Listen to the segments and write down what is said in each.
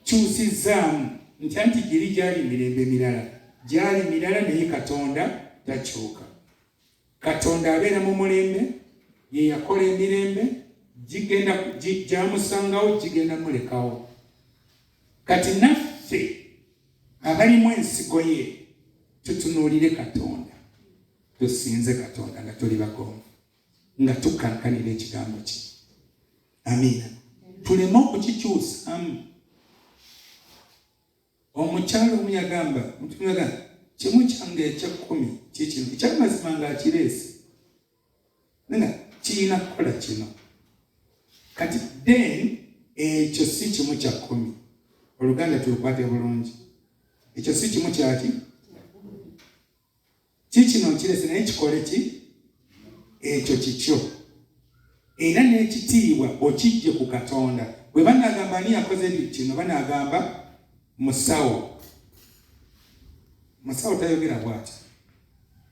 kyusizzaamu ntya nti giri gyali mirembe mirala gyali mirala naye katonda takyuka katonda abeera mu mulembe ye yakola emirembe gigenda gyamusangawo gigenda mulekawo kati naffe abalimu ensigo ye tutunuulire katonda tusinze katonda nga tuli bagonvu nga tukankanira ekigambo kye amiina tuleme okukikyusamu omukyalo omu yagamba mutunaga kimu kyange ekyekkumi kikino ekyamazima nga akireesi nga kirina kukola kino kati then ekyo si kimu kya kkumi oluganda tulukwate bulungi ekyo si kimu kyaki kikino nkirese naye kikole ki ekyo kikyo era n'ekitiibwa okijje ku katonda bwe banagamba ani yakoze kino banagamba musawo musawo tayogera bwati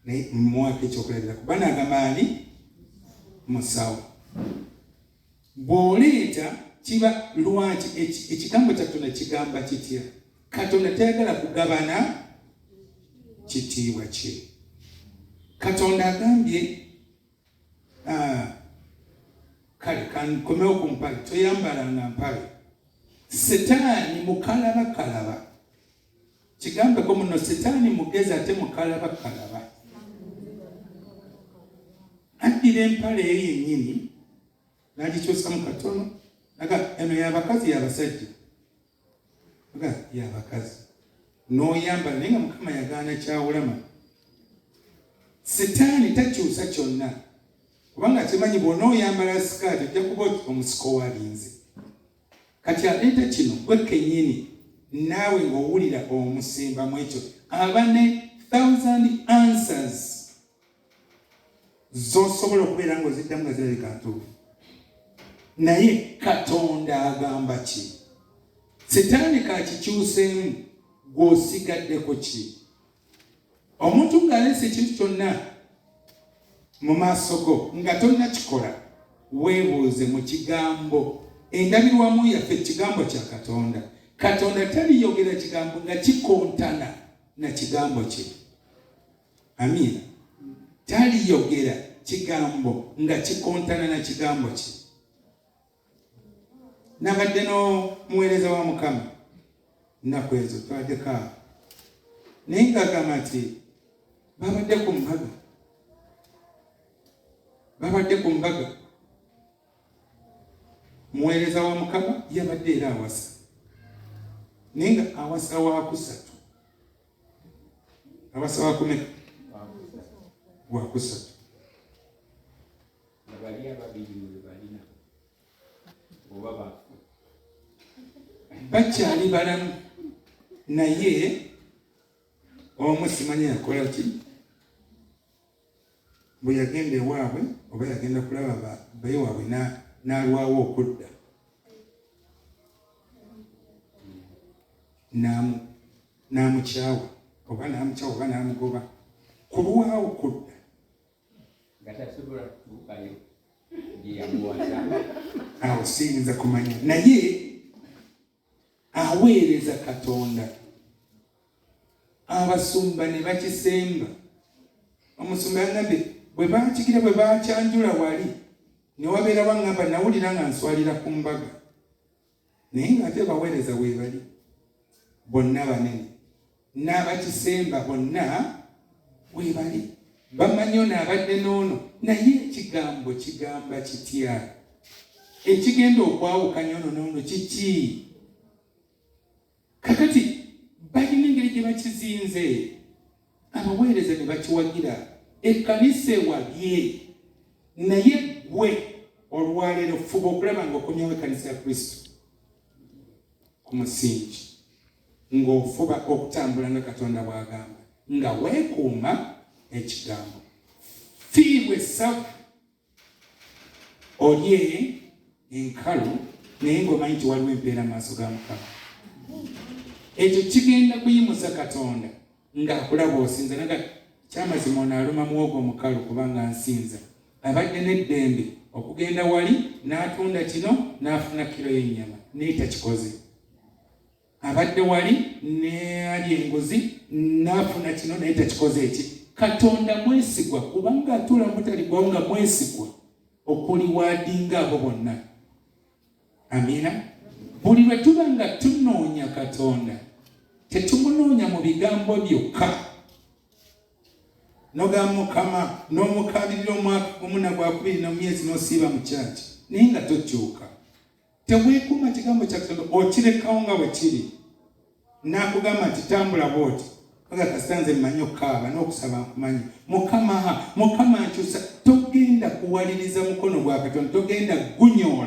naye mwaka ekyokulabiraku banagamba ani musawo bw'oleeta kiba lwaki ekigambo kya katonda kigamba kitya katonda tayagala kugabana kitiibwa kye katonda agambye ah, kale kankomewo ku mpale toyambalanga mpale setaani mukalabakalaba kigambeko muno sitaani mugezi ate mukalaba kalaba addira empale eyo yennyini nagikyusamu katono aga eno yabakazi yabasajja aga yabakazi noyambala naye nga mukama yagaana kyawulama sitaani takyusa kyonna kubanga kimanyi bwona oyambala sikaati ojja kuba omusiko walinze kati aleeta kino gwe kenyini naawe ng'owulira omusimba mu ekyo aba ne thousand answers z'osobola okubeera ng'oziddamu nga zirabika ntuufu naye katonda agamba ki sitaani kakikyuseemu gw'osigaddeko ki omuntu ng'aleese ekintu kyonna mu maaso go nga tonnakikola weebuuze mu kigambo endabirwamu yaffe ekigambo kya katonda katonda taliyogera kigambo nga kikontana na kigambo kye amiina taliyogera kigambo nga kikontana na kigambo kye nabadde n'omuweereza wa mukama nnaku ezo twaddeko awo naye ngagamba nti babadde ku mbaga babadde ku mbaga muweereza wa mukama yabadde era awasa naye nga awasa wakusatu awasa wakumeka wakusatu nga bali ababiri oyo bali nabo oba bafu bakyali balamu naye omu simanya yakola ki bwe yagenda ewaabwe oba yagenda kulaba baye waabwe n'alwawo okudda n'amukyawa oba n'amukyawa oba n'amugoba ku lwawo kudda nga tasobola kutuukayo gye yamuwasa awo siyinza kumanya naye aweereza katonda abasumba ne bakisemba omusumba yagambye bwe bakigira bwe bakyanjula wali ne wabeera waŋŋamba nawulira nga nswalira ku mbaga naye nga ate baweereza weebali bonna banene n'abakisemba bonna weebali bamanyi ono abadde n'ono naye ekigambo kigamba kitya ekigenda okwawukanya ono n'ono kiki kakati balina engeri gye bakizinze abaweereza ne bakiwagira ekkanisa ewabye naye gwe olwaleero fuba okulaba nga okomyawo ekkanisa ya kristo ku musingi ng'ofuba okutambula nga katonda bw'agamba nga weekuuma ekigambo fiibwa essavu olye enkalu naye ng'omanyi nti waliwo empeera maaso ga mukama ekyo kigenda kuyimusa katonda ng'akulaba osinza naga kyamazima ono aluma muwogo omukalu kubanga nsinza abadde n'eddembe okugenda wali n'atunda kino n'afuna kiro y'ennyama naye takikoze abadde wali neali enguzi nafuna kino naye takikoze eki katonda mwesigwa kubanga atula mutaligwawo nga mwesigwa okuliwadinga abo bonna amina buli lwe tuba nga tunoonya katonda tetumunoonya mu bigambo byokka noga mukama n'omukaabirira omwaka gumu na gwakubiri na mumyezi n'osiiba mu kyaki naye nga tokyuka teweekuuma kigambo kya katonda okirekawo nga bwe kiri n'akugamba nti tambula bwoti aga kasita nze mmanyi okukaaba n'okusaba nkumanyi mukama mukama nkyusa togenda kuwaliriza mukono gwa katonda togenda gunyoola